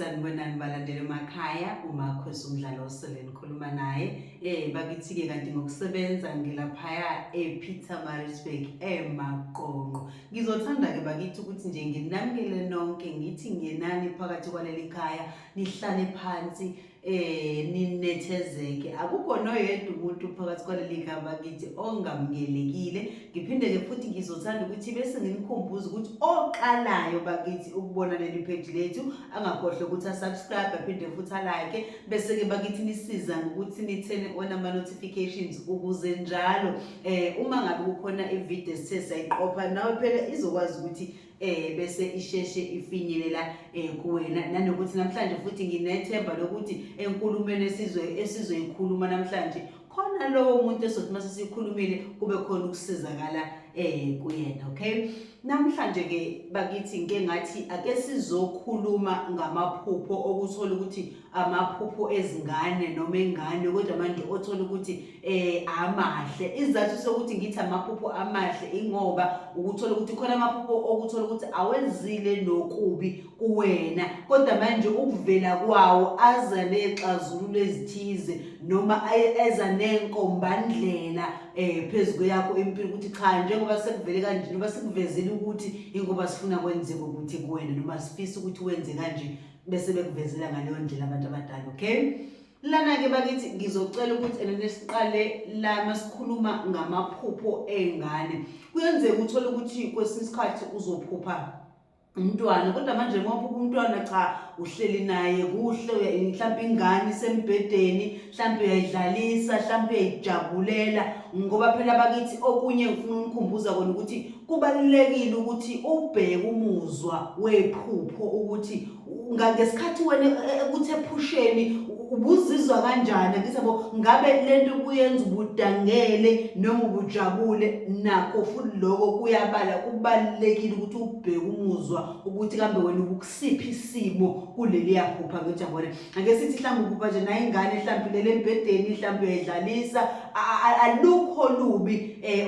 sanibonani balandela emakhaya umakhosi umdlalo osele nikhuluma naye um bakithi-ke kanti ngokusebenza ngilaphaya epeter marisburg emaqonqo ngizothanda-ke bakithi ukuthi nje nginamukele nonke ngithi ngenani phakathi kwaleli khaya nihlale phansi eh ninethezeke akukho noyedwa umuntu phakathi kwaleli khaba kithi ongamukelekile ngiphinde ke futhi ngizothanda ukuthi bese nginikhumbuza ukuthi oqalayo bakithi ukubona leli page lethu angakhohle ukuthi asubscribe aphinde futhi alike bese ke bakithi nisiza ngokuthi nithene ona ama notifications ukuze njalo eh uma ngabe kukhona ivideo sithe sayiqopha nawe phela izokwazi ukuthi eh bese isheshe ifinyelela eh kuwena nanokuthi namhlanje futhi nginethemba lokuthi enkulumeni esizwe esizoyikhuluma namhlanje khona lowo muntu esothi mase sikhulumile kube khona ukusizakala eh kuyena okay namhlanje ke bakithi ngeke ngathi ake sizokhuluma ngamaphupho okuthola ukuthi amaphupho ezingane noma engane kodwa manje othola ukuthi eh amahle isizathu sokuthi ngithi amaphupho amahle ingoba ukuthola ukuthi khona amaphupho okuthola ukuthi awenzile nokubi kuwena kodwa manje ukuvela kwawo aza nexazululo ezithize noma eza nenkombandlela eh phezulu kweyakho impilo ukuthi cha njengoba sekuvele kanje noma sikuvezile ukuthi ingoba sifuna kwenzeke ukuthi kuwena noma sifisa ukuthi wenze kanje bese bekuvezela ngaleyo ndlela abantu abadala okay lana-ke bakithi ngizocela ukuthi ena nesiqale la masikhuluma ngamaphupho ey'ngane kuyenzeka uthole ukuthi kwesinye isikhathi uzophupha umntwana kodwa manje ngoba umntwana cha uhleli naye kuhle mhlawumbe ingane isembhedeni mhlawumbe uyayidlalisa mhlawumbe uyayijabulela ngoba phela bakithi okunye ngifuna umkhumbuza kona ukuthi kubalulekile ukuthi ubheke umuzwa wephupho ukuthi ngesikhathi wena e, e, ukuthi ephusheni ubuzizwa kanjani ngisabo ngabe lento kuyenza ubudangele noma ubujabule nakho futhi lokho kuyabala kubalekile ukuthi ubheke umuzwa ukuthi kambe wena ubukusiphi isimo kuleli yaphupha ngejabule ake sithi mhlawumbe ukuba nje naye ingane mhlawumbe lele embhedeni mhlawumbe uyayidlalisa alukho lubi eh,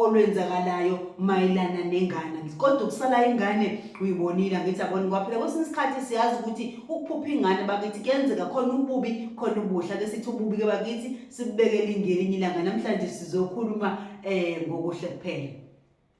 olwenzakalayo mayelana nengane kodwa ukusala ingane uyibonile ngithi abona kwaphela kwesinye isikhathi siyazi ukuthi ukuphupha ingane bakithi kuyenzeka khona ububi khona ubuhle ke sithi ububi ke bakithi sibekele ingelinye ilanga namhlanje sizokhuluma um ngokuhle kuphela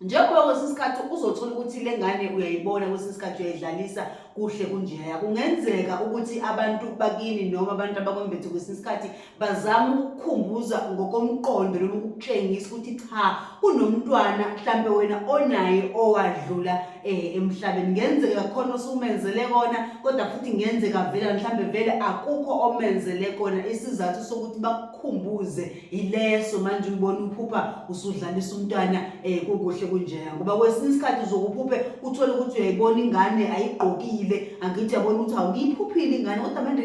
njengoba kwesinye isikhathi uzothola ukuthi le ngane uyayibona kwesinye isikhathi uyayidlalisa kuhle kunjeya kungenzeka ukuthi abantu bakini noma abantu abakwembethe kwesinye isikhathi bazama ukukukhumbuza ngokomqondo noma ukukutshengisa ukuthi cha kunomntwana mhlampe wena onaye owadlula um emhlabeni ngenzeka khona osumenzele kona kodwa futhi ngenzeka vela mhlampe vele akukho omenzele kona isizathu sokuthi bakukhumbuze ileso manje ubona uphupha usudlalisa umntwana um kukuhle kunjeya ngoba kwesinye isikhathi uzokuphuphe uthole ukuthi uyayibona ingane ayigqokile angithi yabona ukuthi hawu ngiyiphuphile ingane kodwa manje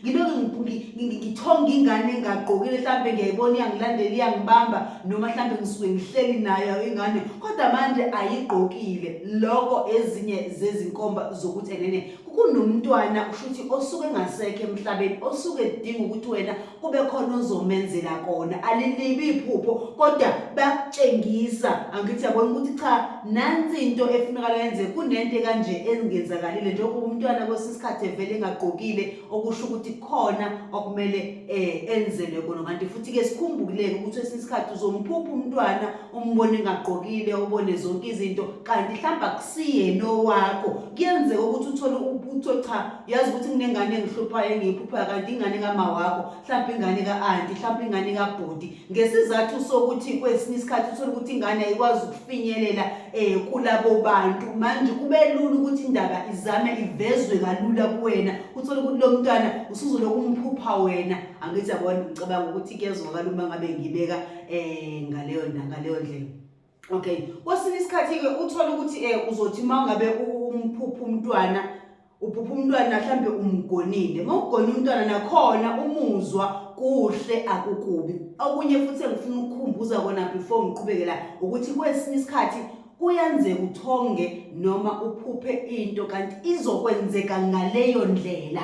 ngiloke ngithonge ingane engagqokile mhlawumbe ngiyayibona iyangilandela iyangibamba noma mhlawumbe ngisuke ngihleli nayo ingane kodwa manje ayigqokile loko ezinye zezinkomba zokuthi enene kunomntwana usho ukuthi osuke engasekho emhlabeni osuke edinga ukuthi wena kube khona ozomenzela kona alilibi iphupho kodwa bakutshengisa angithi yabona ukuthi cha nansi into efunakala yenze kunento kanje engenzakalile njengoba umntwana kwesinye isikhathi evele engagqokile okusho ukuthi khona okumele eh enzelwe kona kanti futhi ke sikhumbuleke ukuthi kwesinye isikhathi uzomphupha umntwana umbone engagqokile ubone zonke izinto kanti hlamba kusiyena owakho kuyenzeka ukuthi uthole ubuthi cha yazi ukuthi kunengane engihluphayo engiyiphuphayo kanti ingane kama wakho mhlawumbe ingane ka-anti mhlawumbe ingane kabhudi ngesizathu sokuthi kwesinye isikhathi uthole ukuthi ingane ayikwazi ukufinyelela um kulabo bantu manje kube lula ukuthi indaba izame ivezwe kalula kuwena uthole ukuthi lo mntwana usuzolokhu umphupha wena angithi yabona ngicabanga ukuthi kuyezwakala uma ngabe ngibeka um ngaleyo ngaleyo ndlela okay kwesinye isikhathi-ke uthole ukuthi um uzothi uma ungabe umphupha umntwana uphupha umntwana mhlawumbe umgonile uma ugone umntwana nakhona umuzwa kuhle akukubi okunye futhi engifuna ukukhumbuza kona before ngiqhubekela ukuthi kwesinye isikhathi kuyenzeka uthonge noma uphuphe into kanti izokwenzeka ngaleyo ndlela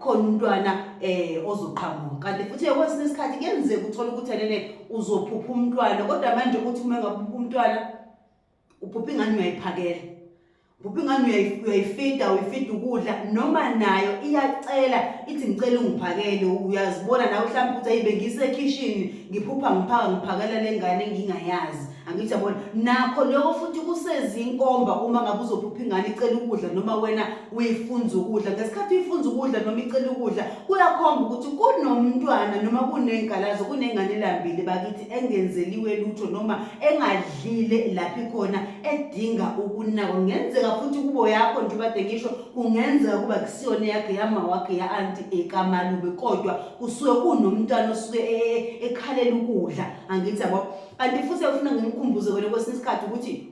khona umntwana eh ozoqhamuka kanti futhi kwesinye isikhathi kuyenzeka uthola ukuthi enene uzophupha umntwana kodwa manje ukuthi uma engaphupha umntwana uphupha ingane uyayiphakela uphupha ingane uyayifida uyifida ukudla noma nayo iyacela ithi ngicela ungiphakele uyazibona nawe mhlawumbe ukuthi ayibe ngisekhishini ngiphupha ngiphaka ngiphakela le ngane engingayazi angithi yabona nakho lokho futhi kusezinkomba uma ngabe uzophupha ingane icela ukudla noma wena uyifunza ukudla ngesikhathi uyifunza ukudla noma icela ukudla kuyakhomba ukuthi kunomntwana noma kunengalazo kunengane elambile bakithi engenzeliwe lutho noma engadlile lapho ikhona edinga ukunakwa kungenzeka futhi kubo yakho nje ubade ngisho kungenzeka kuba kusiyona yakhe yama wakhe ya-anti ekamalube kodwa kusuke kunomntwana osuke e-, e-, ekhalela ukudla angithi yabo kanti futhi afuna ngimkhumbuze wena kwesinye isikhathi ukuthi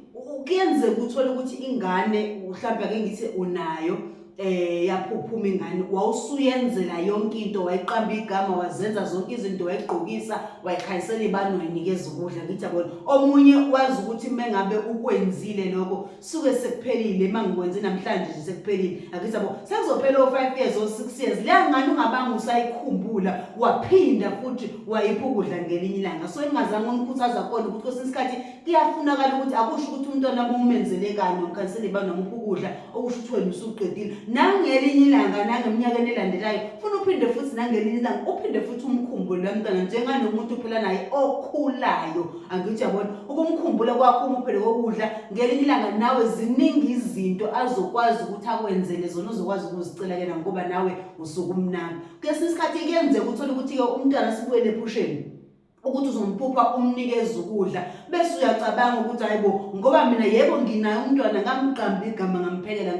kuyenzeka uthole ukuthi ingane mhlawumbe ake ngithi unayo eh yaphuphuma ingane wawusuyenzela yonke into wayiqamba igama wazenza zonke izinto wayigqokisa wayikhayisela ibani wayinikeza ukudla ngithi yabona omunye wazi ukuthi mengabe ukwenzile lokho suke sekuphelile uma ngikwenze namhlanje nje sekuphelile akithi yabo sekuzophela o-five years o-six years leya ngane ungabanga usayikhumbula waphinda futhi wayipha ukudla ngelinye ilanga so ingazange umkhuthaza kona ukuthi kwesinye isikhathi kuyafunakala ukuthi akusho ukuthi umntwana bumenzele kanye omkhanseli banomupha ukudla okusho ukuthi wena usuqedile nangelinye ilanga nangeminyakeni elandelayo funa uphinde futhi nangelinye ilanga uphinde futhi umkhumbule lomntwana njenganomuntu uphila naye okhulayo angijabona ukumkhumbula kwakho umuphele kokudla ngelinye ilanga nawe ziningi izinto azokwazi ukuthi akwenzele zona uzokwazi ukuzicela kena ngoba nawe usukumnami kwesinye isikhathi kuyenzeka uthole ukuthi-ke umntwana sibuyele ephusheni ukuthi uzomphupha umnikeza ukudla bese uyacabanga ukuthi hayibo ngoba mina yebo nginaye umntwana ngamqamba igama ngamphelela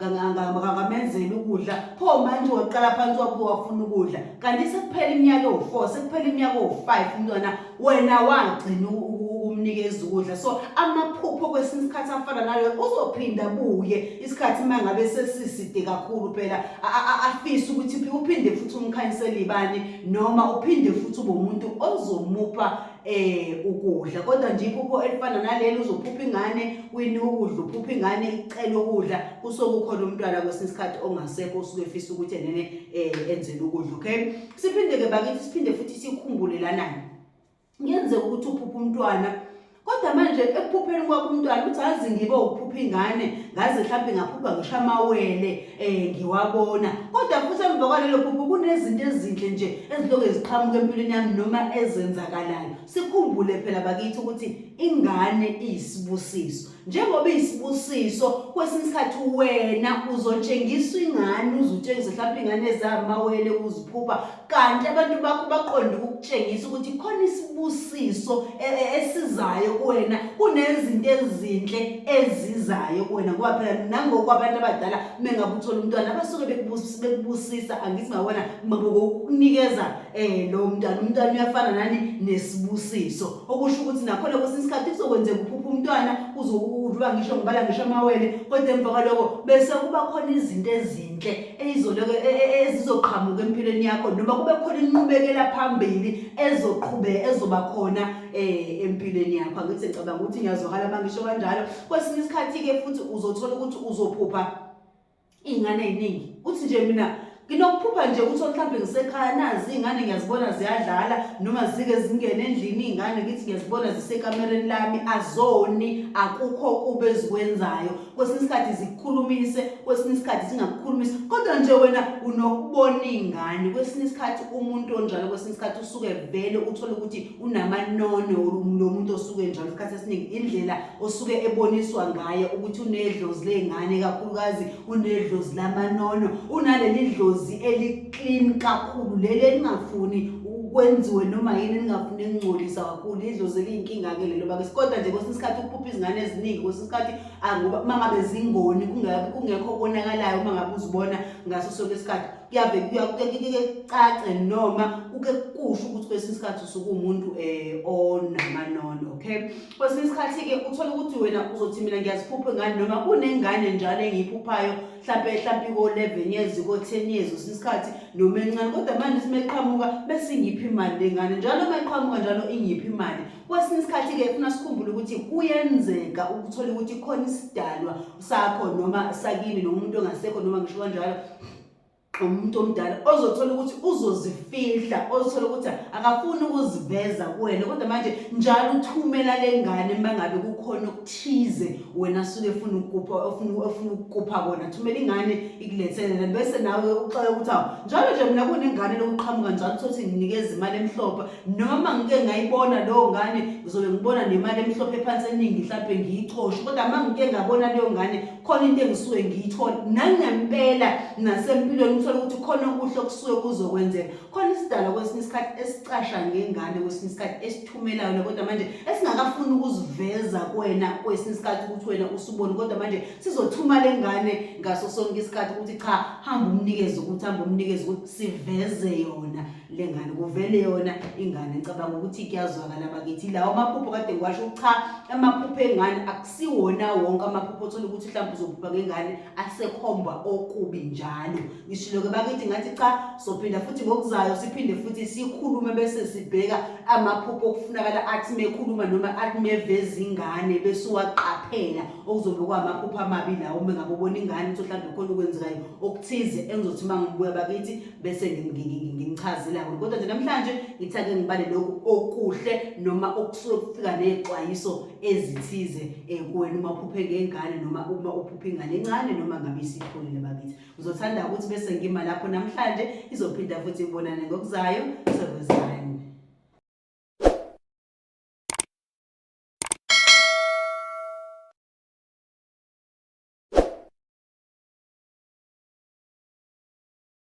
ngamenzela ukudla pho manje waqala phansi wapho wafuna ukudla kanti sekuphela iminyaka ewu-four sekuphela iminyaka ewu-five umntwana wena wagcina ukumnikeza ukudla so amaphupho kwesinye isikhathi afana nalo uzophinda buye isikhathi uma ngabe sesiside kakhulu phela afise ukuthi uphinde futhi umkhanyisele ibani noma uphinde futhi ube umuntu ozomupha eh ukudla kodwa nje iphupho elifana nalelo uzophupha ingane wini ukudla uphupha ingane icela ukudla kusokukhona umntwana kwesinye isikhathi ongasekho usuke efisa ukuthi enene eh enzele ukudla okay siphinde-ke bakithi siphinde futhi sikhumbulelanayo kuyenzeka ukuthi uphuphe umntwana kodwa manje ekuphupheni kwakho umntwana ukuthi azi ngibe ukuphupha ingane ngaze mhlawumbe ngaphupha ngisho amawele um ngiwabona kodwa futhi emva kwalelo phupho kunezinto ezinhle nje eziloke ziqhamuka empilweni yami noma ezenzakalayo sikhumbule phela bakithi ukuthi ingane iyisibusiso njengoba isibusiso kwesinye isikhathi wena uzotshengiswa ingane uzutshengisa mhlawumbe ingane zamawele uziphupha kanti abantu bakho baqonde ukukutshengisa ukuthi khona isibusiso e, e, esizayo kuwena kunezinto ezinhle ezizayo kuwena ngoba phela nangoku abantu abadala mengabe uthola umntwana abasuke bekubusisa angithi ngawona mabokukunikeza um eh, lowo mntwana umntwana uyafana nani nesibusiso okusho ukuthi nakhona kwesinye isikhathi kuzokwenzeka uphupha umntwana uze udlwa ngisho ngibala ngisho amawele kodwa emva kwaloko bese kuba khona izinto ezinhle eyizoloko e, e, e, ezizoqhamuka empilweni yakho noma kube khona inqubekela phambili ezoqhube ezoba khona eh empilweni yakho angithi ngicabanga ukuthi ngiyazwakala mangisho kanjalo kwesinye isikhathi ke futhi uzothola ukuthi uzophupha iy'ngane ey'ningi uthi nje mina nginokuphupha nje ukuthi mhlawumbe ngisekhaya nazi iy'ngane ngiyazibona ziyadlala noma zike zingene endlini iy'ngane ngithi ngiyazibona zisekamereni lami azoni akukho kube ezikwenzayo kwesinye isikhathi zikukhulumise kwesinye isikhathi zingakukhulumisi kodwa nje wena unokubona iy'ngane kwesinye isikhathi umuntu onjalo kwesinye isikhathi usuke vele uthole ukuthi unamanono lo muntu osuke njalo isikhathi esiningi indlela osuke eboniswa ngayo ukuthi unedlozi ley'ngane kakhulukazi unedlozi lamanono unaleli dlozi eli-clean kakhulu leli elingafuni kwenziwe noma yini elingafuni elingcolisa kakhulu idlozi eliyinkinga-ke lelo bakesi kodwa nje kwesinye isikhathi ukuphupha izingane eziningi kwesinye isikhathi uma ngabe zingoni kungekho konakalayo uma ngabe uzibona ngaso sonke isikhathi kuyave kuyacace noma uke kusho ukuthi kwesinye isikhathi usuke umuntu um eh, onamanono okay kwesinye isikhathi-ke uthole ukuthi wena uzothi mina ngiyaziphupha ingane noma kunengane njalo engiyiphuphayo mhlawumpe mhlawumpe ko-eleven years ko-ten years kwesinye isikhathi noma encane kodwa manje simeqhamuka besingiphi imali lengane njalo uma iqhamuka njalo ingiphi imali kwesinye isikhathi-ke funa sikhumbule ukuthi kuyenzeka ukuthola ukuthi khona isidalwa sakho noma sakini noma umuntu ongasekho noma ngisho kanjalo umuntu omdala ozothola ukuthi uzozifihla ozothola ukuthi akafuni ukuziveza kuwena kodwa manje njalo uthumela le ngane uma ngabe kukhona okuthize wena suke efuna ukukupha ofuna ofuna ukukupha kona thumela ingane ikulethele bese nawe uxoxe ukuthi awu njalo nje mina kunengane lokuqhamuka njalo uthole ukuthi nginikeza imali emhlophe noma ngike ngayibona leyo ngane ngizobe ngibona nemali emhlophe ephansi eningi mhlawumbe ngiyicoshe kodwa uma ngike ngabona leyo ngane khona into engisuke ngiyithola nangempela nasempilweni uthole ukuthi khona okuhle okusuke kuzokwenzeka khona isidalwa kwesinye isikhathi esicasha ngengane kwesinye isikhathi esithumelayo kodwa manje esingakafuni ukuziveza kwena kwesinye isikhathi ukuthi wena usuboni kodwa manje sizothuma le ngane ngaso sonke isikhathi ukuthi cha hamba umnikeze ukuthi hamba umnikeze ukuthi siveze yona le ngane kuvele yona ingane ngicabanga ukuthi kuyazwakala bakithi lawo amaphupho kade ngiwasho cha amaphupho engane akusiwona wonke amaphupho othola ukuthi mhlawumbe uzophupha ngengane asekhomba okubi njalo ngishilo-ke bakithi ngathi cha sophinda futhi ngokuzayo siphinde futhi sikhulume bese sibheka amaphupho okufunakala athi mekhuluma noma athi meveza ingane bese uwaqaphela okuzobe kwamaphupho amabi lawo uma ngabe ubona ingane ukuthi mhlawumbe khona okwenzekayo okuthize engizothi uma ngibuya bakithi bese ngimchazile kakhulu kodwa nje namhlanje ngithi ake ngibale lokhu okuhle noma okusuke kufika ney'xwayiso ezithize um kuwena uma uphuphe ngengane noma uma uphuphe ingane encane noma ngabe isikhulile bakithi ngizothanda ukuthi bese ngima lapho namhlanje izophinda futhi ibonane ngokuzayo sekwezani